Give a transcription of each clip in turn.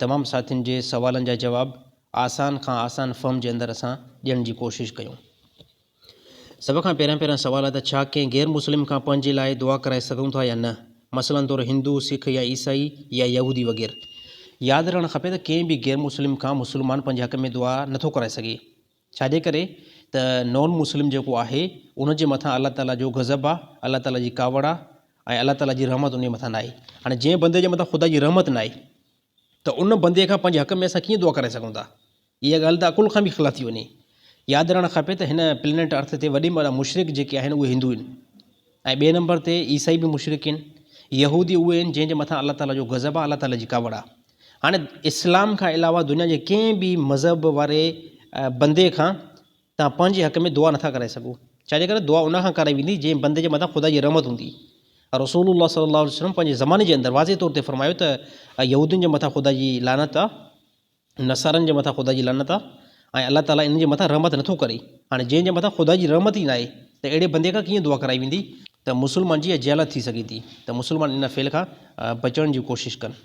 تمام ساٿين جي سوالن جا جواب آسان کان آسان فهم جي اندر اسان ڏيڻ جي ڪوشش ڪيون. سڀ کان پهريان پهريان سوال ته ڇا ڪنهن غير مسلم کان پنهنجي لاء دعا ڪرائي سگهون ٿا يا نه؟ مثلا طور هندو، سک يا عيسائي يا يهودي وغيره. ياد رهڻ کپي ته ڪنهن به غير مسلم کان مسلمان پنهنجي حق ۾ دعا نه ٿو ڪرائي سگهي. ڇاجي ڪري ته نان مسلم جيڪو آهي ان جي مٿان الله تعالي جو غضب آ الله تعالي جي ڪاوڙ آ ۽ الله تعالي جي رحمت ان جي مٿان ناهي هاڻي جنهن بندي جي مٿان خدا جي رحمت ناهي ته ان بندي کان پنهنجي حق ۾ اسان ڪيئن دعا ڪرائي سگهون ٿا اها ڳالهه ته عقل کان به خلاف ٿي وڃي ياد رهڻ کپي ته هن پلينيٽ ارٿ تي وڏي ۾ وڏا مشرڪ جيڪي آهن اهي هندو آهن ۽ ٻئي نمبر تي عيسائي به مشرڪين، يهودي اهي آهن جنهن جي مٿان الله تعاليٰ جو غضب آهي الله تعاليٰ جي ڪاوڙ آهي. هاڻي اسلام کان علاوه دنيا جي ڪنهن به مذهب واري بندي کان توهان پنهنجي حق ۾ دعا نٿا ڪرائي سگهو ڇاجي ڪري دعا ان کان ڪرائي ويندي جنهن بندي جي مٿان خدا جي رحمت هوندي. رسول الله صلي الله عليه وسلم پنهنجي زماني جي اندر واضح طور تي فرمايو ته يهودين جي مٿان خدا جي لعنت آهي. نصارن جي مٿان خدا جي لعنت آ ۽ الله تعالي انهن جي مٿان رحمت نٿو ڪري. هاڻي جنهن جي مٿان خدا جي رحمت ئي ناهي ته اهڙي بندي کان ڪيئن دعا ڪرائي ويندي؟ ته مسلمان جي اها جهالت ٿي سگهي ٿي ته مسلمان ان فعل کان بچڻ جي ڪوشش ڪن.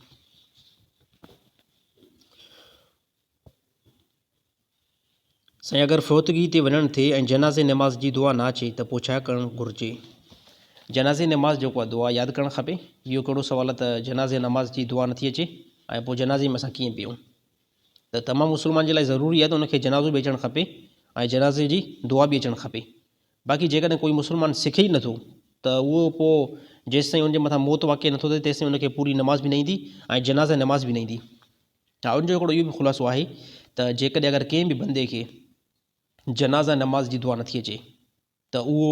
سائين اگر فوتگي تي وڃڻ ٿئي ۽ جنازي نماز جي دعا نه اچي ته پوء ڇا ڪرڻ گهرجي؟ جنازي نماز جي ڪا دعا ياد ڪرڻ کپي؟ اهو ڪهڙو سوال ته جنازي نماز جي دعا نٿي اچي ۽ پوء جنازي ۾ اسان ڪيئن بيهون؟ ته تمام مسلمان جي لاء ضروري آهي ته ان کي جنازو به اچڻ کپي ۽ جنازي جي دعا به اچڻ کپي. باقي جيڪڏهن ڪوئي مسلمان سکي ئي نٿو ته اهو پوء جيستائين ان جي مٿان موت واقع نٿو ٿئي تيستائين ان کي پوري نماز به نه ايندي ۽ جنازي نماز به نه ايندي. ان جو هڪڙو اهو به خلاصو آهي ته جيڪڏهن اگر ڪنهن به بندي کي جنازه نماز جي دعا نٿي اچي ته اهو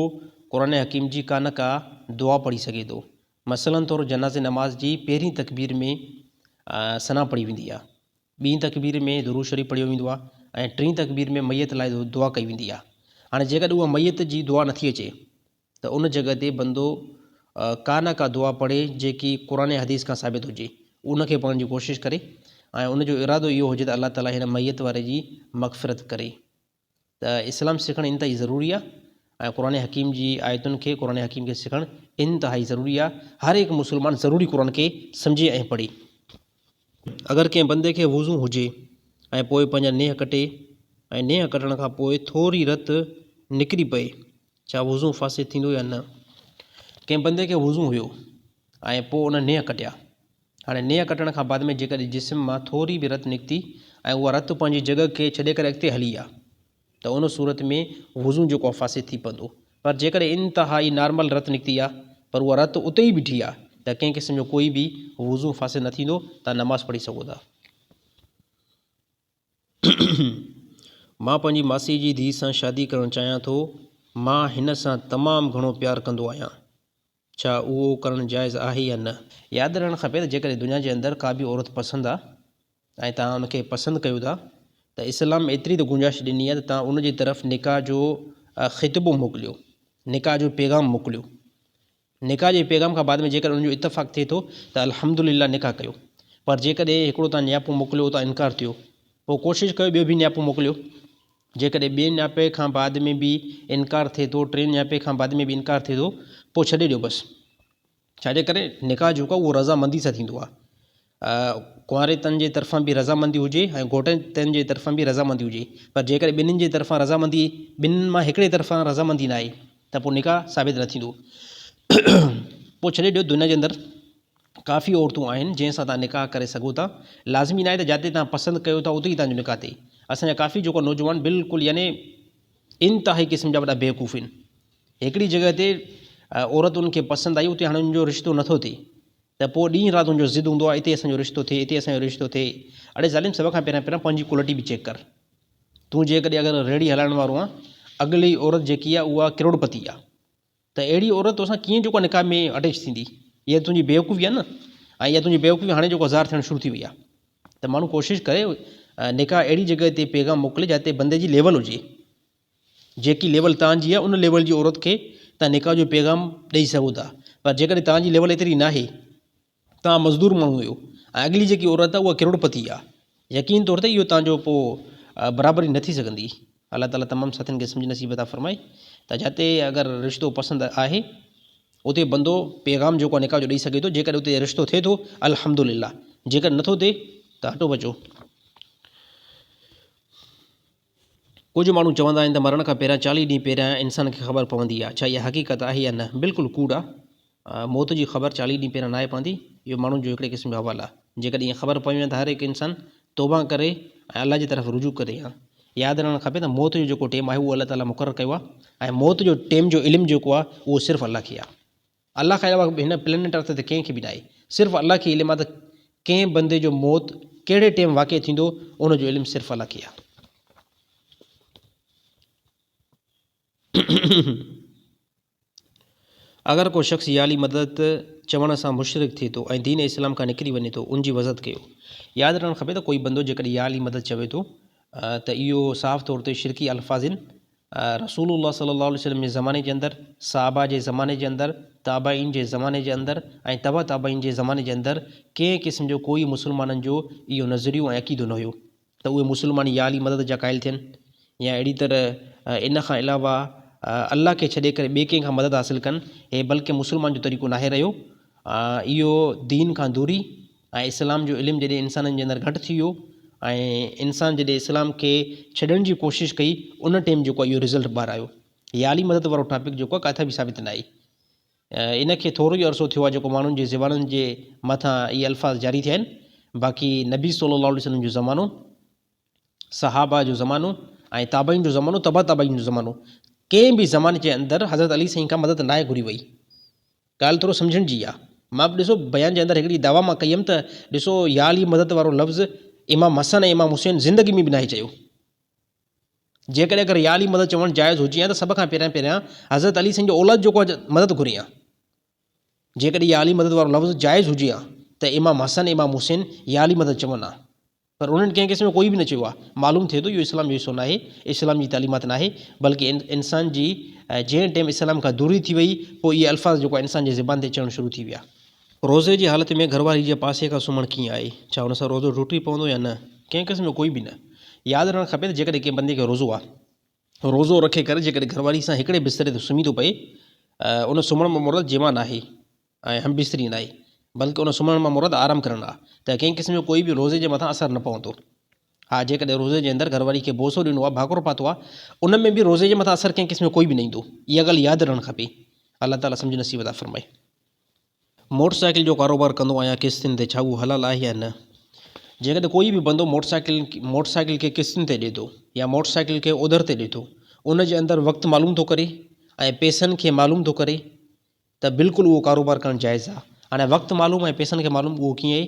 قرآن حڪيم جي ڪا نه ڪا دعا پڙهي سگهي ٿو. مثلا طور جنازي نماز جي پهرين تڪبير ۾ ثنا پڙهي ويندي آهي، ٻين تڪبير ۾ درود شريف پڙهيو ويندو آهي ۽ ٽين تڪبير ۾ ميت لاء دعا ڪئي ويندي آهي. هاڻي جيڪڏهن اها ميت جي دعا نٿي اچي ته ان جڳهه تي بندو ڪا نه ڪا دعا پڙهي جيڪي قرآن يا حديث کان ثابت هجي ان کي پڙهڻ جي ڪوشش ڪري ۽ ان جو ارادو اهو هجي ته الله تعاليٰ هن ميت واري جي مغفرت ڪري ته اسلام سکڻ انتهائي ضروري آهي ۽ قرآن حڪيم جي آيتن کي قرآن حڪيم کي سکڻ انتهائي ضروري آهي هر هڪ مسلمان ضروري قرآن کي سمجهي ۽ پڙهي اگر ڪنهن بندي کي وضو هجي ۽ پوء پنهنجا نيهه ڪٽي ۽ نيهه ڪٽڻ کان پوء ٿوري رت نڪري پئي ڇا وضو فاسد ٿيندو يا نه؟ ڪنهن بندي کي وضو هيو ۽ پوء ان نيهه ڪٽيا. هاڻي نيهه ڪٽڻ کان بعد ۾ جيڪڏهن جسم مان ٿوري به رت نڪتي ۽ اها رت پنهنجي جڳهه کي ڇڏي ڪري اڳتي هلي ويا ته ان صورت ۾ وضو جيڪو آهي فاسد ٿي پوندو پر جيڪڏهن انتهائي نارمل رت نڪتي آهي پر اها رت اتي ئي بيٺي آهي ته ڪنهن قسم جو ڪوئي به وضو فاسد نه ٿيندو، توهان نماز پڙهي سگهو ٿا. مان پنهنجي ماسي جي ڌيء سان شادي ڪرڻ چاهيان ٿو. مان هن سان تمام گهڻو پيار ڪندو آهيان. ڇا اهو ڪرڻ جائز آهي يا نه؟ ياد رهڻ کپي ته جيڪڏهن دنيا جي اندر ڪا به عورت پسند آ ۽ توهان ان کي پسند ڪيو ٿا ته اسلام ايتري ته گنجائش ڏني آهي ته توهان ان جي طرف نڪاح جو خطبو موڪليو، نڪاح جو پيغام موڪليو. نڪاح جي پيغام کان بعد ۾ جيڪڏهن انهن جو اتفاق ٿئي ٿو ته الحمد لله نڪاح ڪيو پر جيڪڏهن هڪڙو تان نياپو موڪليو اتان انڪار ٿيو پوء ڪوشش ڪيو ٻيو به نياپو موڪليو جيڪڏهن ٻئي نياپي کان بعد ۾ به انڪار ٿئي ٿو ٽين نياپي کان بعد ۾ به انڪار ٿئي ٿو پوء ڇڏي ڏيو بس ڇاجي ڪري نڪاح جيڪو آهي اهو رضا مندي سان ٿيندو آهي ڪنواريتن جي طرفان به رضامندي هجي ۽ گهوٽيتن جي طرفان به رضامندي هجي پر جيڪڏهن ٻنهي جي طرفان رضامندي ٻنهي مان هڪڙي طرفان رضامندي نه آئي ته پوء نڪاح ثابت نه ٿيندو پوء ڇڏي ڏيو دنيا جي اندر ڪافي عورتون آهن جنهن سان توهان نڪاح ڪري سگهو ٿا لازمي ناهي ته جاتي توهان پسند ڪيو ٿا اتي ئي توهان جو نڪاح ٿئي اسان جا ڪافي جوڪا نوجوان بلڪل يعني انتهائي قسم جا وڏا بيوقوف آهن هڪڙي جڳهه تي عورت ان کي پسند آئي اتي هاڻي ان جو رشتو نٿو ٿئي ته پوء ڏينهن رات تنهنجو ضد هوندو آ اتي اسان جو رشتو ٿئي اتي اسان جو رشتو ٿئي اڙي ظالم سڀ کان پهريان پهريان پنهنجي ڪلٽي به چيڪ ڪر تون جيڪڏهن اگر ريڙهي هلائڻ وارو آن اڳلي عورت جيڪي آ اها ڪروڙپتي آ ته اهڙي عورت توسان ڪيئن جيڪو آ نڪاح ۾ اٽيچ ٿيندي اها ته تنهنجي بيوقوفي آ نه ۽ اها تنهنجي بيوقوفي هاڻي جيڪو ظاهر ٿيڻ شروع ٿي وئي آ ته ماڻهو ڪوشش ڪري نڪاح اهڙي جڳهه تي پيغام موڪلي جتي بندي جي ليول هجي. جيڪي ليول تان جي آهي ان ليول جي عورت کي تان نڪاح جو پيغام ڏئي سگهو ٿا پر جيڪڏهن تان جي ليول ايتري ناهي تان مزدور ماڻهو اهو ۽ اڳلي جيڪي عورت آهي اها ڪروڙ پتي آهي يقين طور تي اهو تان جو پوء برابري نه ٿي سگهندي الله تعالي تمام ساٿين کي سمجھ نصيب عطا فرمائي ته جتي اگر رشتو پسند آهي اتي بندو پيغام جيڪو نڪاح جو ڏئي سگهي ٿو جيڪڏهن اتي رشتو ٿئي ٿو الحمدلله جيڪڏهن نٿو ٿئي ته هٽو بچو ڪجهه ماڻهو چوندا آهن ته مرڻ کان پهريان چاليهه ڏينهن پهريان انسان کي خبر پوندي آهي، ڇا اها حقيقت آهي يا نه؟ بلڪل ڪوڙ آهي. موت جي خبر چاليهه ڏينهن پهريان ناهي پوندي. اهو ماڻهن جو هڪڙي قسم جو حوال آهي. جيڪڏهن ائين خبر پوي ها ته هر هڪ انسان توبه ڪري ۽ الله جي طرف رجوع ڪري ها. ياد رهڻ کپي ته موت جو جيڪو ٽيم آهي اهو الله تعاليٰ مقرر ڪيو آهي ۽ موت جو ٽيم جو علم جيڪو آهي اهو صرف الله کي آهي. الله کان علاوه هن پلينيٽ ارٿ تي ڪنهن کي به ناهي. صرف الله کي علم آ ته ڪنهن بندي جو موت ڪهڙي ٽيم واقع ٿيندو ان جو علم صرف الله کي آ. اگر ڪو شخص ياعلي مدد چوڻ سان مشرڪ ٿئي ٿو ۽ دين اسلام کان نڪري وڃي ٿو ان جي وضحت ڪيو. ياد رهڻ کپي ته ڪوئي بندو جيڪڏهن ياعلي مدد چوي ٿو ته اهو صاف طور تي شرڪي الفاظن، رسول الله صلي الله عليه وسلم جي زماني جي اندر، صحابه جي زماني جي اندر، تابعين جي زماني جي اندر ۽ تبع تابعين جي زماني جي اندر ڪنهن قسم جو ڪوئي مسلمانن جو اهو نظريو ۽ عقيدو نه هيو ته اهي مسلمان يا علي مدد جا قائل ٿين يا اهڙي طرح ان کان علاوه الله کي ڇڏي ڪري ٻئي ڪنهن کان مدد حاصل ڪن هي بلڪه مسلمان جو طريقو ناهي رهيو اهو دين کان دوري ۽ اسلام جو علم جڏهن انسانن جي اندر گهٽ ٿي ويو ۽ انسان جڏهن اسلام کي ڇڏڻ جي ڪوشش ڪئي ان ٽيم جيڪو اهو رزلٽ ٻاهر آيو هي عالي مدد وارو ٽاپڪ جيڪو آهي ڪاٿي به ثابت ناهي ان کي ٿورو ئي عرصو ٿيو آهي جيڪو ماڻهن جي زبانن جي مٿان اهي الفاظ جاري ٿيا آهن باقي نبي صلي الله عليه وسلم جو زمانو صحابه جو زمانو ۽ تابعين جو زمانو تبع تابعين جو زمانو ڪنهن به زماني جي اندر حضرت علي سائين کان مدد ناهي گهري وئي ڳالهه ٿورو سمجهڻ جي آ مان به ڏسو بيان جي اندر هڪڙي دعويٰ مان ڪئي هيم ته ڏسو يا علي مدد وارو لفظ امام حسن ۽ امام حسين زندگي ۾ به ناهي چيو جيڪڏهن اگر يا علي مدد چوڻ جائز هجي ها ته سڀ کان پهريان پهريان حضرت علي سائين جو اولاد جيڪو آ مدد گهري ها جيڪڏهن يا علي مدد وارو لفظ جائز هجي ها ته امام حسن امام حسين يا علي مدد چون ها پر انهن ڪنهن قسم جو ڪوئي به نه چيو آهي. معلوم ٿئي ٿو اهو اسلام جو حصو ناهي، اسلام جي تعليمات ناهي، بلڪه انسان جي جنهن ٽيم اسلام کان دوري ٿي وئي پوء اهي الفاظ جيڪو آهي انسان جي زبان تي چڙهڻ شروع ٿي ويا. روزي جي حالت ۾ گهر واري جي پاسي کان سمهڻ ڪيئن آهي؟ ڇا ان سان روزو ٽٽي پوندو يا نه؟ ڪنهن قسم جو ڪوئي به نه. ياد رهڻ کپي ته جيڪڏهن ڪنهن بندي کي روزو آهي، روزو رکي ڪري جيڪڏهن گهر واري سان هڪڙي بستري تي سمهي ٿو پئي، ان سمهڻ مان مراد جماع ناهي. ۽ هم بستري ناهي، بلڪ ان سمهڻ مان مراد آرام ڪرڻ آ، ته ڪنهن قسم جو ڪوئي به روزي جي مٿان اثر نه پوندو. ها جيڪڏهن روزي جي اندر گهرواري کي بوسو ڏنو آ، ڀاڪرو پاتو آ، ان ۾ به روزي جي مٿان اثر ڪنهن قسم جو ڪوئي به نه ايندو. اها ڳالهه ياد رهڻ کپي. الله تعاليٰ سمجهه نصيب عطا فرمائي. موٽر سائيڪل جو ڪاروبار ڪندو آهيان قسطين تي، ڇا اهو حلال آهي يا نه؟ جيڪڏهن ڪوئي به بندو موٽر سائيڪل موٽر سائيڪل کي قسطين تي ڏي ٿو يا موٽر سائيڪل کي اوڌر تي ڏي ٿو، ان جي اندر وقت معلوم ٿو ڪري ۽ پئسن کي معلوم ٿو ڪري، ته بلڪل اهو ڪاروبار ڪرڻ جائز آ. هاڻي وقت معلوم ۽ پئسن کي معلوم اهو ڪيئن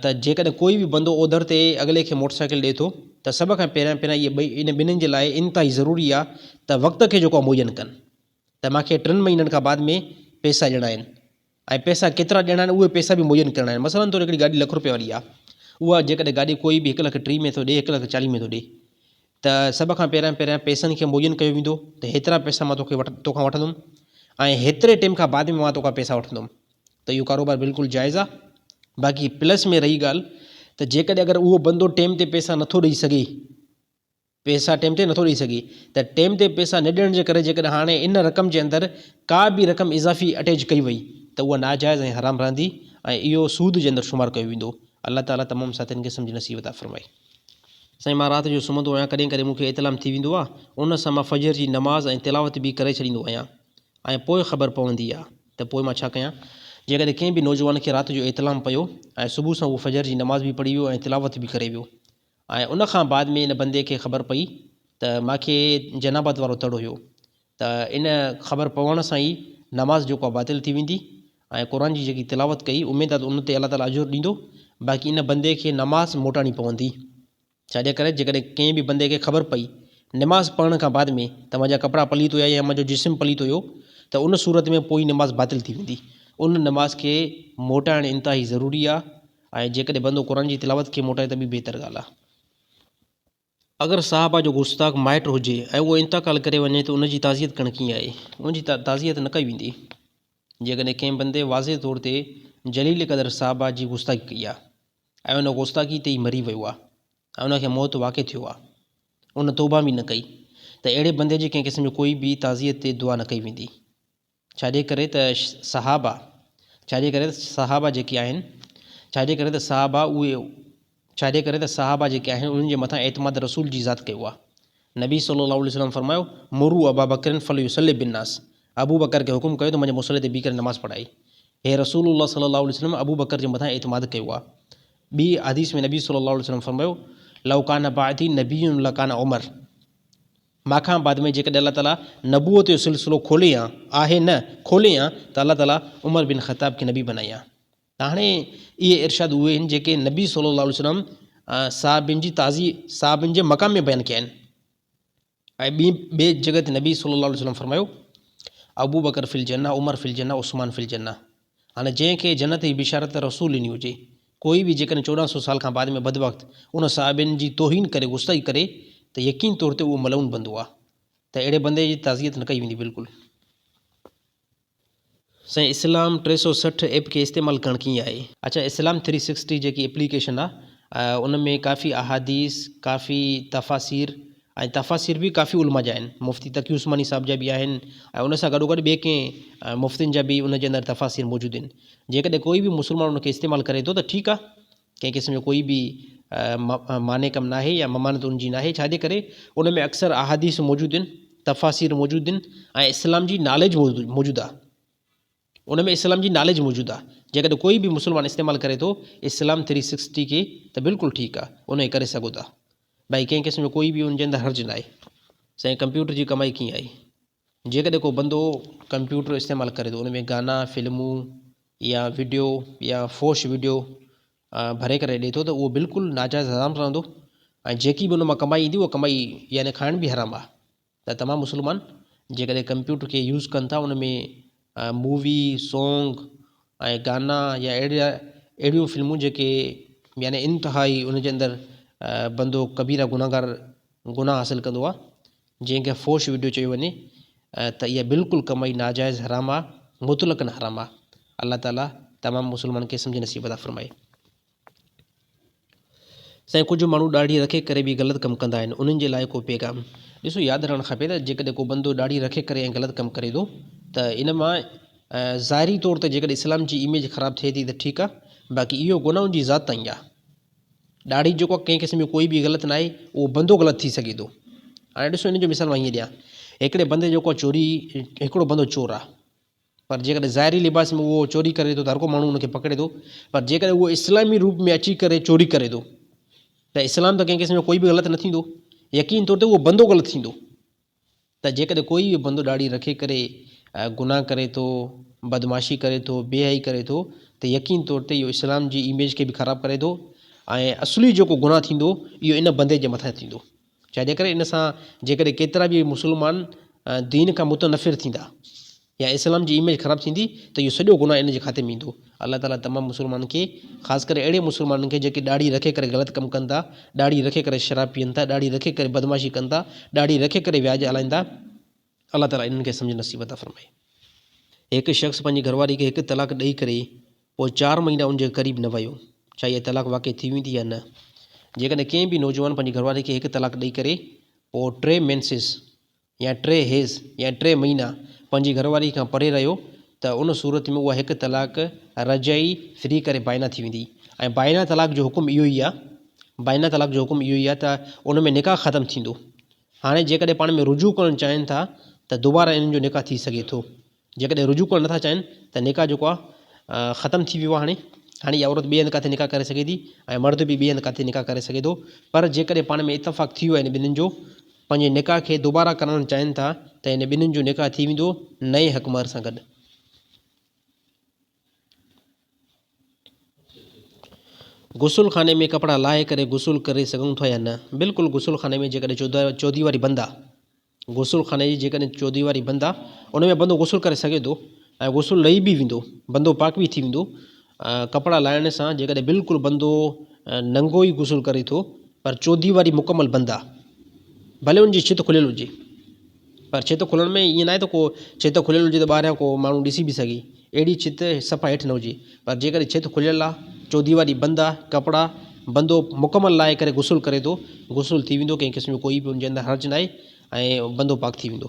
ته جيڪڏهن ڪوئي به بندو اوڌر تي اڳلي کي موٽر سائيڪل ڏئي ٿو ته سڀ کان پهريان پهريان اهي ٻئي ان ٻنهين جي لاء انتهائي ضروري آ ته وقت کي جيڪو آ مهيا ڪن ته مان کي ٽن مهينن کان بعد ۾ پئسا ڏيڻا آهن ۽ پئسا ڪيترا ڏيڻا آهن اهي پئسا به مهيا ڪرڻا آهن مثلا طور هڪڙي گاڏي لک رپين واري آ اها جيڪڏهن گاڏي ڪوئي به هڪ لک ٽيهه ۾ ٿو ڏئي هڪ لک چاليهه ۾ ٿو ڏئي ته سڀ کان پهريان پهريان پئسن کي موجن ڪيو ويندو ته هيترا پئسا مان توکي وٽ توکان وٺندم ۽ هيتري ٽيم کان بعد ۾ مان توکان پئسا وٺندم ته اهو ڪاروبار بلڪل جائز آ باقي پلس ۾ رهي ڳالهه ته جيڪڏهن اگر اهو بندو ٽيم تي پئسا نٿو ڏئي سگهي پئسا ٽيم تي نٿو ڏئي سگهي ته ٽيم تي پئسا نه ڏيڻ جي ڪري جيڪڏهن هاڻي ان رقم جي اندر ڪا به رقم اضافي اٽيچ ڪئي وئي ته اها ناجائز ۽ حرام رهندي ۽ اهو سود جي اندر شمار ڪيو ويندو الله تعالي تمام ساٿين کي سمجهه نصيب عطا فرمائي. سائين مان رات جو سمهندو آهيان ڪڏهن ڪڏهن مون کي احتلام ٿي ويندو آ ان سان مان فجر جي نماز ۽ تلاوت به ڪري ڇڏيندو آهيان ۽ پوء خبر پوندي آ ته پوء مان ڇا ڪيان جيڪڏهن ڪنهن به نوجوان کي رات جو احتلام پيو ۽ صبح سان اهو فجر جي نماز به پڙهي ويو ۽ تلاوت به ڪري ويو ۽ ان کان بعد ۾ ان بندي کي خبر پئي ته ماکي جنابت وارو تڙ هيو ته ان خبر پوڻ سان ئي نماز جيڪو آهي باطل ٿي ويندي ۽ قرآن جي جيڪي تلاوت ڪئي اميد آهي ته ان تي الله تعاليٰ اجر ڏيندو باقي ان بندي کي نماز موٽاڻي پوندي ڇا جي ڪري جيڪڏهن ڪنهن به بندي کي خبر پئي نماز پڙهڻ کان بعد ۾ ته منهنجا ڪپڙا پليت هيا يا منهنجو جسم پليت هيو ته ان صورت ۾ پوئين نماز باطل ٿي ويندي ان نماز کي موٽائڻ انتهائي ضروري آهي ۽ جيڪڏهن بندو قرآن جي تلاوت کي موٽائي ته ٻي بهتر ڳالهه آهي. اگر صاحبه جو گستاخ مائٽ هجي ۽ اهو انتقال ڪري وڃي ته ان جي تعزيت ڪرڻ ڪيئن آهي؟ ان جي تعزيت نه ڪئي ويندي. جيڪڏهن ڪنهن بندي واضح طور تي جليل قدر صاحبه جي گستاخي ڪئي آهي ۽ ان گستاخي تي ئي مري ويو آهي ۽ ان کي موت واقع ٿيو آهي، ان توبه به نه ڪئي ته اهڙي بندي جي ڪنهن قسم جو ڪوئي به تعزيت تي دعا نه ڪئي ويندي. ڇا جي ڪري ته صحابه، ڇا جي ڪري ته صحابه جيڪي آهن، ڇا جي ڪري ته صحابه اهي، ڇا جي ڪري ته صحابه جيڪي آهن انهن جي مٿان اعتماد رسول جي ذات ڪيو آهي. نبي صلّي اللّٰه عليه وسلّم فرمايو، مروا ابا بڪر فليصلّي بالنّاس، ابو بڪر کي حڪم ڪيو ته منهنجي مصلي تي بيهي ڪري نماز پڙهائي. هي رسول الله صلّي اللّٰه عليه وسلّم ابو بڪر جي مٿان اعتماد ڪيو آهي. ٻي حديث ۾ نبي صلّي اللّٰه عليه وسلّم فرمايو، لو ڪان بعدي نبي لڪان عمر، مان کان بعد ۾ جيڪڏهن الله تعاليٰ نبوت جو سلسلو کولي هان آهي نه کولي هان ته الله تعاليٰ عمر بن خطاب کي نبي بنائي هان ته هاڻي اهي ارشاد اهي آهن جيڪي نبي صلي الله عليه وسلم صحابين جي تعظيم صحابين جي مقام ۾ بيان ڪيا آهن ۽ ٻي ٻي جڳهه تي نبي صلي الله عليه وسلم فرمايو ابو بڪر في الجنه عمر في الجنه عثمان في الجنه هاڻي جنهن کي جنت جي بشارت رسول ڏني هجي، ڪوئي به جيڪڏهن چوڏهن سؤ سال کان بعد ۾ بدبخت ان صحابين جي توهين ڪري غصي ڪري ته يقين طور تي اهو ملعون بندو آ ته اهڙي بندي جي تعزيت نه ڪئي ويندي بلڪل. سائين اسلام ٽي سؤ سٺ ايپ کي استعمال ڪرڻ ڪيئن آهي. اچا اسلام ٿري سڪسٽي جيڪي اپليڪيشن آ ان ۾ ڪافي احاديث ڪافي تفاسير ۽ تفاسير به ڪافي علماء جا آهن، مفتي تقي عثماني صاحب جا به آهن ۽ ان سان گڏوگڏ ٻئي ڪئين مفتين جا به ان جي اندر تفاسير موجود آهن، جيڪڏهن ڪوئي به مسلمان ان کي استعمال ڪري ٿو ته ٺيڪ آهي، ڪنهن قسم جو ڪوئي به معني ڪم ناهي يا ممانعت ان جي ناهي، ڇا جي ڪري ان ۾ اڪثر احاديث موجود آهن، تفاسير موجود آهن ۽ اسلام جي ناليج موجود آهي. ان ۾ اسلام جي ناليج موجود آ جيڪڏهن ڪوئي به مسلمان استعمال ڪري ٿو اسلام ٿري سڪسٽي کي ته بلڪل ٺيڪ آ انهي ڪري سگهو ٿا ڀائي ڪنهن قسم جو ڪوئي به ان جي اندر حرج ناهي سائين ڪمپيوٽر جي ڪمائي ڪيئن آهي جيڪڏهن ڪو بندو ڪمپيوٽر استعمال ڪري ٿو ان ۾ گانا فلمون يا وڊيو يا فوش وڊيو ڀري ڪري ڏي ٿو ته اهو بلڪل ناجائز حرام رهندو ۽ جيڪي به ان مان ڪمائي ايندي اها ڪمائي يعني کائڻ به حرام آ ته تمام مسلمان جيڪڏهن ڪمپيوٽر کي يوز ڪن ٿا ان ۾ مووي سونگ ۽ گانا يا اهڙا اهڙيون فلمون جيڪي يعني انتهائي ان جي اندر بندو ڪبيرا گناهگار گناهه حاصل ڪندو آهي جنهن کي فوش وڊيو چيو وڃي ته اها بلڪل ڪمائي ناجائز حرام آهي مطلقن حرام آهي الله تعالي تمام مسلمانن کي سمجهه نصيب عطا فرمائي. سائين ڪجهه ماڻهو ڏاڙهي رکي ڪري به غلط ڪم ڪندا آهن انهن جي لاء ڪو پيغام. ڏسو ياد رهڻ کپي ته جيڪڏهن ڪو بندو ڏاڙهي رکي ڪري ۽ غلط ڪم ڪري ٿو ته ان مان ظاهري طور ته جيڪڏهن اسلام جي اميج خراب ٿئي ٿي ته ٺيڪ آهي باقي اهو گناهه ان جي ذات تائين آهي ڏاڙهي جيڪو ڪنهن قسم جو ڪوئي به غلط ناهي اهو بندو غلط ٿي سگهي ٿو هاڻي ڏسو ان جو مثال مان هيئن ڏيان هڪڙي بندي جيڪو چوري هڪڙو بندو چور آهي پر جيڪڏهن ظاهري لباس ۾ اهو چوري ڪري ٿو ته هر ڪو ماڻهو ان کي پڪڙي ٿو پر جيڪڏهن اهو اسلامي روپ ۾ اچي ڪري چوري ڪري ٿو ته اسلام ته ڪنهن قسم جو ڪوئي به غلط نه ٿيندو يقين طور تي اهو بندو غلط ٿيندو ته جيڪڏهن ڪوئي اهو بندو ڏاڙهي رکي ڪري گناهه ڪري ٿو بدمعاشي ڪري ٿو بي حيائي ڪري ٿو ته يقين طور تي اهو اسلام جي اميج کي به خراب ڪري ٿو ۽ اصلي جيڪو گناهه ٿيندو اهو ان بندي جي مٿان ٿيندو جنهن ڪري ان سان جيڪڏهن ڪيترا به مسلمان دين کان متنفر ٿيندا يا اسلام جي اميج خراب ٿيندي ته اهو سڄو گناهه ان جي کاتي ۾ ايندو. الله تعاليٰ تمام مسلمانن کي خاص ڪري اهڙي مسلمانن کي جيڪي ڏاڙهي رکي ڪري غلط ڪم ڪن ٿا، ڏاڙهي رکي ڪري شراب پيئن ٿا، ڏاڙهي رکي ڪري بدمعاشي ڪن ٿا، ڏاڙهي رکي ڪري وياج هلائين ٿا، الله تعالي انهن کي سمجهه نصيب عطا فرمائي. هڪ شخص پنهنجي گهرواري کي هڪ طلاق ڏئي ڪري پوء چار مهينا ان جي قريب نه ويو، ڇا اها طلاق واقع ٿي ويندي يا نه؟ جيڪڏهن ڪنهن به نوجوان پنهنجي گهرواري کي هڪ طلاق ڏئي ڪري پوء ٽي مينسز يا ٽي هيز يا ٽي مهينا پنهنجي گهرواري کان پري رهيو ته ان صورت ۾ اها هڪ طلاق رجعي، Free، ڪري بائنا ٿي ويندي ۽ بائنا طلاق جو حڪم اهو ئي آهي بائنا طلاق جو حڪم اهو ئي آهي ته ان ۾ نڪاح ختم ٿيندو. هاڻي جيڪڏهن پاڻ ۾ رجوع ڪرڻ چاهين ٿا ته دوباره انهن جو نڪاح ٿي سگهي ٿو. جيڪڏهن رجوع ڪرڻ نٿا چاهين ته نڪاح جيڪو آهي ختم ٿي ويو آهي هاڻي هاڻي اها عورت ٻئي هنڌ ڪاٿي نڪاح ڪري سگهي ٿي ۽ مرد به ٻئي هنڌ ڪاٿي نڪاح ڪري سگهي ٿو پر جيڪڏهن پاڻ ۾ اتفاق ٿي ويو هن ٻنهين جو پنهنجي نڪاح کي دوباره ڪرائڻ چاهين ٿا ته ان ٻنهين جو نڪاح ٿي ويندو نئين حق مهر سان گڏ. غسل خاني ۾ ڪپڙا لاهي ڪري غسل ڪري سگهون ٿا يا نه؟ بلڪل غسل خاني ۾ جيڪڏهن چوديواري بند آ غسل خاني جي جيڪڏهن چوديواري بند آ ان ۾ بندو غسل ڪري سگهي ٿو ۽ غسل لهي به ويندو بندو پاڪ به ٿي ويندو ڪپڙا لاهڻ سان جيڪڏهن بلڪل بندو ننگو ئي غسل ڪري ٿو پر چوديواري مڪمل بند آ ڀلي ان جي ڇت کليل هجي پر ڇت کلڻ ۾ ائين ناهي ته ڪو ڇت کليل هجي ته ٻاهريان ڪو ماڻهو ڏسي به سگهي. اهڙي ڇت صفا هيٺ نه هجي. پر جيڪڏهن ڇت کليل آهي، چوديواري بند آهي، ڪپڙا، بندو مڪمل لاهي ڪري غسل ڪري ٿو، غسل ٿي ويندو، ڪنهن قسم جو ڪوئي به ان جي اندر حرج ناهي ۽ بندو پاڪ ٿي ويندو.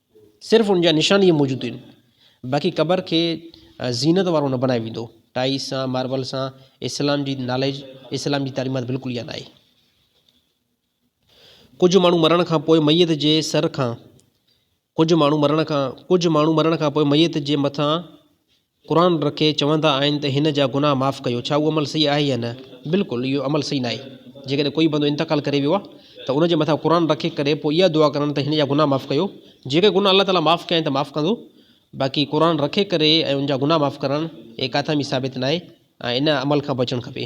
صرف ان جا نشان ئي موجود آهن. باقي قبر کي زينت وارو نه بنايو ويندو. ٽائيس سان، ماربل سان اسلام جي ناليج، اسلام جي تعليمات بلڪل اها ناهي. ڪجهه ماڻهو مرڻ کان پوء ميت جي سر کان ڪجهه ماڻهو مرڻ کان ڪجهه ماڻهو مرڻ کان پوء ميت جي مٿان قرآن رکي چوندا آهن ته هن جا گناهه معاف ڪيو، ڇا اهو عمل صحيح آهي يا نه؟ بلڪل اهو عمل صحيح ناهي، جيڪڏهن ڪوئي بندو انتقال ڪري ويو آهي ته ان جي مٿان قرآن رکي ڪري پوء اها دعا ڪرڻ ته هن جا گناهه معاف ڪيو، جيڪي گناهه الله تعاليٰ معاف ڪيائين ته معاف ڪندو، باقي قرآن رکي ڪري ۽ ان جا گناهه معاف ڪرڻ هي ڪاٿان به ثابت ناهي. ۽ ان عمل کان بچڻ کپي.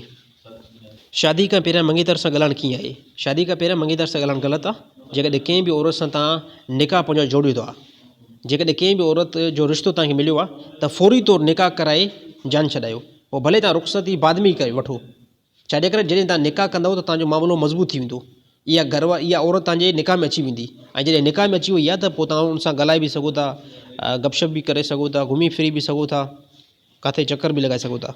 شادي کان پهريان منڱيتر سان ڳالهائڻ ڪيئن آهي؟ شادي کان پهريان منڱيتر سان ڳالهائڻ غلط آهي. جيڪڏهن ڪنهن به عورت سان توهان نڪاح پنهنجو جوڙيو ٿا. جيڪڏهن ڪنهن به عورت جو رشتو توهان کي مليو آهي ته فوري طور نڪاح ڪرائي جان ڇڏايو. پوء ڀلي توهان رخصتي بعد ۾ ئي وٺو. ڇاجي ڪري جڏهن توهان نڪاح ڪندؤ ته توهان جو معاملو مضبوط ٿي ويندو. اها گهر واري اها عورت توهان جي نڪاح ۾ اچي ويندي ۽ جڏهن نڪاح ۾ اچي وئي آهي ته پوء توهان ان سان ڳالهائي به سگهو ٿا، گپ شپ به ڪري سگهو ٿا، گهمي ڦري به سگهو ٿا. ڪاٿي چڪر به لڳائي سگهو ٿا.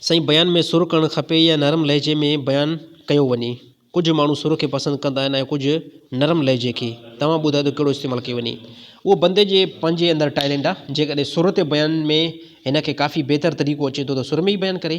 سائين بيان ۾ سر ڪرڻ کپي يا نرم لهجي ۾ بيان ڪيو وڃي. ڪجهه ماڻهو سر کي پسند ڪندا آهن ۽ ڪجهه نرم لهجي کي. توهان ٻڌايو ته ڪهڙو استعمال ڪيو وڃي. اهو بندي جي پنهنجي اندر ٽائلينٽ آهي. جيڪڏهن سر تي بيان ۾ هن کي ڪافي بهتر طريقو اچي ٿو ته سر ۾ ئي بيان ڪري.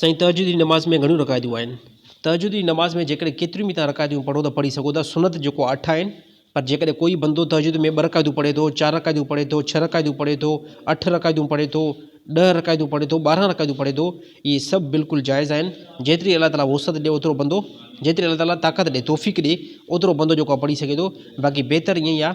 سائين تهجد جي نماز ۾ گهڻيون رڪعتون آهن. تهجد جي نماز ۾ جيڪڏهن ڪيتريون به توهان رڪعتون پڙهو ته پڙهي سگهو ٿا، سنت جيڪو آهي اٺ آهن، پر جيڪڏهن ڪوئي بندو تهجد ۾ ٻه رڪعتون پڙهي ٿو، چار رڪعتون پڙهي ٿو، ڇهه رڪعتون پڙهي ٿو، اٺ رڪعتون پڙهي ٿو، ڏهه رڪعتون پڙهي ٿو، ٻارهن رڪعتون پڙهي ٿو، اهي سڀ بلڪل جائز آهن، جيتري الله تعاليٰ وسعت ڏئي اوترو بندو، جيتري الله تعاليٰ طاقت ڏئي، توفيق ڏئي، اوترو بندو جيڪو آهي پڙهي سگهي ٿو، باقي بهتر ائين ئي آهي.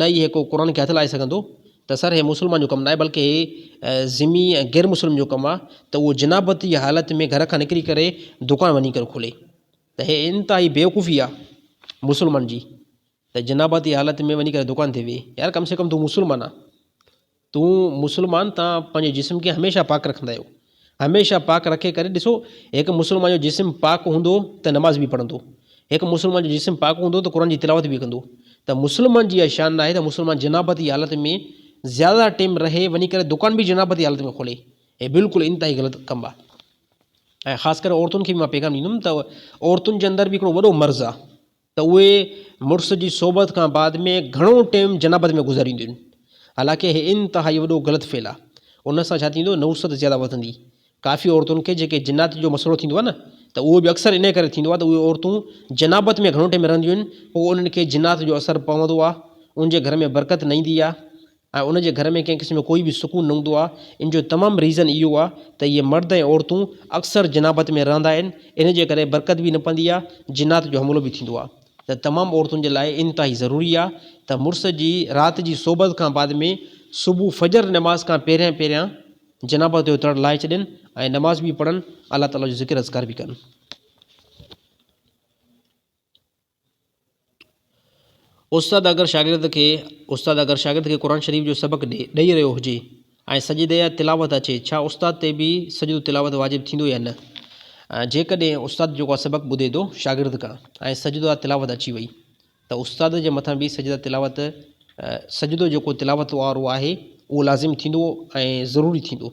نه ئي هي ڪو قرآن کي هٿ لائي سگهندو ته سر هي مسلمان جو ڪم ناهي بلڪه هي ذمي ۽ غير مسلم جو ڪم آ ته اهو جنابت جي حالت ۾ گهر کان نڪري ڪري دڪان وڃي ڪري کولي ته هي انتهائي بيوقوفي آ مسلمان جي ته جنابت جي حالت ۾ وڃي ڪري دڪان تي ويهي يار ڪم سي ڪم تون مسلمان آ تون مسلمان تان پنهنجي جسم کي هميشه پاڪ رکندا آهيو هميشه پاڪ رکي ڪري ڏسو هڪ مسلمان جو جسم پاڪ هوندو ته نماز به پڙهندو هڪ مسلمان جو جسم پاڪ هوندو ته قرآن جي تلاوت به ڪندو ته مسلمان جي اها شان ناهي ته مسلمان جنابت جي حالت ۾ زياده ٽيم رهي وڃي ڪري دڪان به جنابت جي حالت ۾ کولي هي بلڪل انتهائي غلط ڪم آهي ۽ خاص ڪري عورتن کي به مان پيغام ڏيندم ته عورتن جي اندر به هڪڙو وڏو مرض آهي ته اهي مڙس جي صحبت کان بعد ۾ گهڻو ٽيم جنابت ۾ گذارينديون. حالانڪه هي انتهائي وڏو غلط فعل آ. ان سان ڇا ٿيندو نحوست زياده وڌندي. ڪافي عورتن کي جيڪي جنات جو مسئلو ٿيندو آ نه ته اهو به اڪثر انهي ڪري ٿيندو آ ته اهي عورتون جنابت ۾ گهڻو ٽيم رهنديون آهن پوء انهن کي جنات جو اثر پوندو آ ان جي گهر ۾ برڪت نه ايندي آ ۽ ان جي گهر ۾ ڪنهن قسم جو ڪوئي به سڪون نه هوندو آهي، ان جو تمام ريزن اهو آهي ته اهي مرد ۽ عورتون اڪثر جنابت ۾ رهندا آهن، ان جي ڪري برڪت به نه پوندي آهي، جنات جو حملو به ٿيندو آهي ته تمام عورتن جي لاء انتهائي ضروري آهي ته مڙس جي رات جي صحبت کان بعد ۾ صبح فجر نماز کان پهريان پهريان جنابت جو تڙ لاهي ڇڏين ۽ نماز به پڙهن الله تعالي جو ذڪر اذڪار به ڪن. استاد اگر شاگرد کي استاد اگر شاگرد کي قرآن شريف جو سبق ڏئي رهيو هجي ۽ سجدي يا تلاوت اچي ڇا استاد تي به سجدو تلاوت واجب ٿيندو يا نه؟ جيڪڏهن استاد جيڪو سبق ٻڌي ٿو شاگرد کان ۽ سجدو يا تلاوت اچي وئي ته استاد جي مٿان به سجدا تلاوت سجدو جيڪو تلاوت وارو آهي اهو لازم ٿيندو ۽ ضروري ٿيندو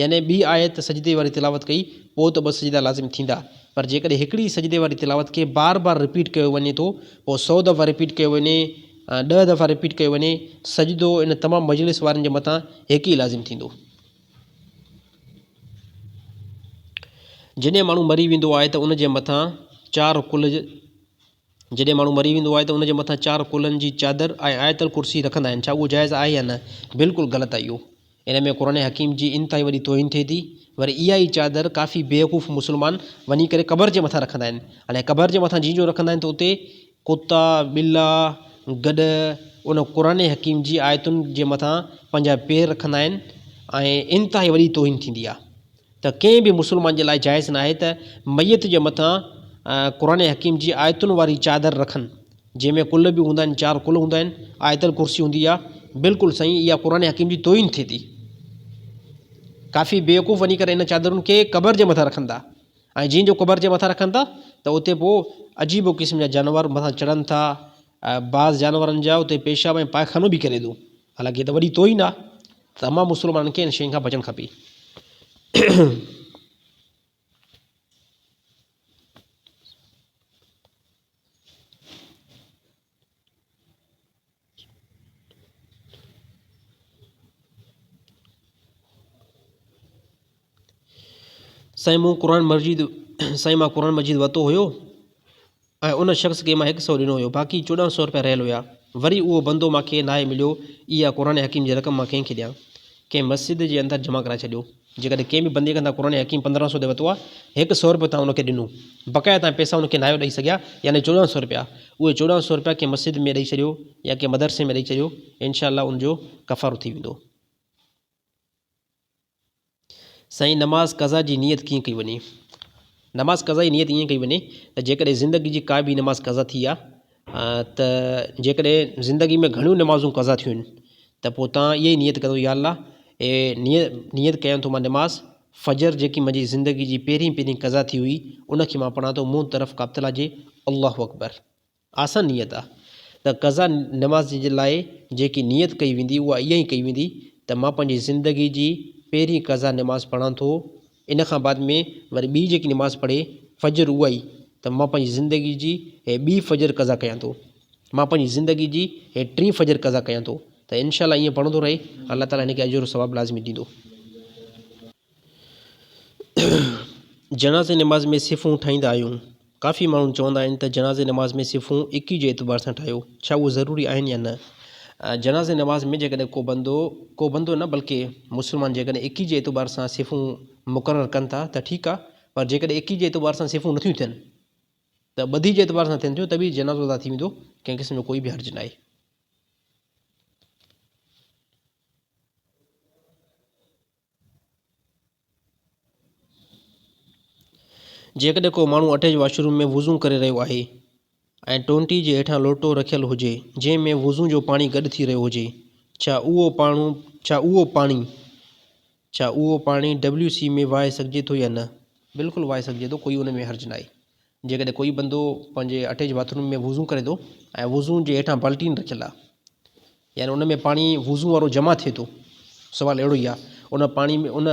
يعني ٻي آيت سجدي واري تلاوت ڪئي پوء ته ٻه سجدا لازم ٿيندا پر جيڪڏهن هڪڙي ئي سجدي واري تلاوت کي بار بار رپيٽ ڪيو وڃي ٿو پوء سؤ دفعا رپيٽ ڪيو وڃي يا ڏهه دفعا رپيٽ ڪيو وڃي سجدو ان تمام مجلس وارن جي مٿان هڪ ئي لازم ٿيندو. جڏهن ماڻهو مري ويندو آهي ته ان جي مٿان چار ڪل جڏهن ماڻهو مري ويندو آهي ته ان جي مٿان چار ڪلن جي چادر ۽ آيت الڪرسي رکندا آهن ڇا اهو جائز آهي يا نه بلڪل غلط آهي اهو ان ۾ قرآن حڪيم جي انتهائي وڏي توهين ٿئي ٿي وري اها ئي چادر ڪافي بيوقوف مسلمان وڃي ڪري قبر جي مٿان رکندا آهن هاڻي قبر جي مٿان جي جو رکندا آهن ته اتي ڪتا ٻلا گڏ ان قرآن حڪيم جي آيتن جي مٿان پنهنجا پير رکندا آهن ۽ انتهائي وڏي توهين ٿيندي آهي ته ڪنهن به مسلمان جي لاء جائز ناهي ته ميت جي مٿان قرآن حڪيم جي آيتن واري چادر رکن جنهن ۾ قل به هوندا آهن چار قل هوندا آهن آيت الڪرسي هوندي آهي بلڪل سائين اها قرآن حڪيم جي توهين ٿئي ٿي ڪافي بيوقوف وڃي ڪري ان چادرن کي قبر جي مٿان رکن ٿا ۽ جن جو قبر جي مٿان رکن ٿا ته اتي پوء عجيب و قسم جا جانور مٿان چڙهن ٿا بعض جانورن جا اتي پيشاب ۽ پائخانو به ڪري ٿو حالانڪ هيء ته وڏي توهين آهي ته امان مسلمانن کي ان شين کان بچڻ کپي. سائين مون قرآن مجيد سائين مان قرآن مجيد ورتو هيو ۽ ان شخص کي مان هڪ سئو ڏنو هيو باقي چوڏهن سئو روپيا رهيل هيا وري اهو بندو مان کي ناهي مليو اها قرآن حڪيم جي رقم مان ڪنهن کي ڏيان ڪنهن مسجد جي اندر جمع ڪرائي ڇڏيو جيڪڏهن ڪنهن به بندي کان تان قرآن حڪيم پندرهن سئو تي ورتو آهي هڪ سئو روپيو تان ان کي ڏنو بقايا تان پيسا ان کي ناهيو ڏئي سگهيا يعني چوڏهن سئو روپيا اهي چوڏهن سئو روپيا ڪنهن مسجد ۾ ڏئي ڇڏيو يا ڪنهن مدرسي ۾ ڏئي ڇڏيو انشاء الله ان جو ڪفارو ٿي ويندو سائين نماز قضا جي نيت ڪيئن ڪئي وڃي؟ نماز قضا جي نيت ائين ڪئي وڃي ته جيڪڏهن زندگي جي ڪا به نماز قضا ٿي آ ته جيڪڏهن زندگي ۾ گهڻيون نمازون قضا ٿيون آهن ته پوء تان اها ئي نيت ڪرو يا الله اي نيت نيت ڪيان ٿو مان نماز فجر جيڪي منهنجي زندگي جي پهرين پهرين قضا ٿي هئي ان کي مان پڙهان ٿو منهن طرف ڪابطلا جي الله اڪبر آسان نيت آ ته قضا نماز جي لاء جيڪي نيت ڪئي ويندي اها اها ئي ڪئي ويندي ته مان پنهنجي زندگي جي پهرين قضا نماز پڙهان ٿو ان کان بعد ۾ وري ٻي جيڪي نماز پڙهي فجر اها ئي ته مان پنهنجي زندگي جي هي ٻي فجر قضا ڪيان ٿو مان پنهنجي زندگي جي هي ٽين فجر قضا ڪيان ٿو ته انشاء الله ائين پڙهندو رهي الله تعالٰي هن کي اجر و ثواب لازمي ڏيندو. جنازي نماز ۾ صفون ٺاهيندا آهيون. ڪافي ماڻهو چوندا آهن ته جنازي نماز ۾ صفون اڪي جي اعتبار سان ٺاهيو، ڇا اهي ضروري آهن يا نه؟ جنازي نماز ۾ جيڪڏهن ڪو بندو، ڪو بندو نه بلڪه مسلمان جيڪڏهن اڪي جي اعتبار سان صفون مقرر ڪن ٿا ته ٺيڪ آهي پر جيڪڏهن اڪي جي اعتبار سان صفون نٿيون ٿين ته ٻڌي جي اعتبار سان ٿين ٿيون ته به جنازو ادا ٿي ويندو ڪنهن قسم جو ڪوئي به حرج ناهي. جيڪڏهن ڪو ماڻهو اٽيچ واش روم ۾ وضو ڪري رهيو آهي ۽ ٽونٽي جي هيٺان لوٽو رکيل هجي جنهن ۾ وضو جو پاڻي گڏ ٿي رهيو هجي ڇا اهو پاڻو ڇا اهو پاڻي ڇا اهو پاڻي WC ۾ وهائي سگهجي ٿو يا نه؟ بلڪل وهائي سگهجي ٿو ڪوئي ان ۾ حرج ناهي جيڪڏهن ڪوئي بندو پنهنجي اٽيچ باٿ روم ۾ وضو ڪري ٿو ۽ وضو جي هيٺان بالٽين رکيل آهي يعني ان ۾ پاڻي وضو وارو جمع ٿئي ٿو سوال اهڙو ئي آهي ان پاڻي ۾ ان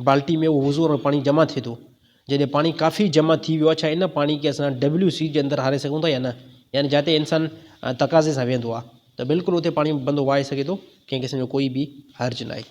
بالٽي ۾ اهو وضو وارو پاڻي جمع ٿئي ٿو جڏهن پاڻي ڪافي جمع ٿي ويو آهي ڇا ان پاڻي کي اسان ڊبليو سي جي اندر هاري سگهون ٿا يا نه يعني جاتي انسان تقاضي سان ويهندو آهي ته بلڪل اتي پاڻي بندو وهائي سگهي ٿو ڪنهن قسم جو ڪوئي به حرج ناهي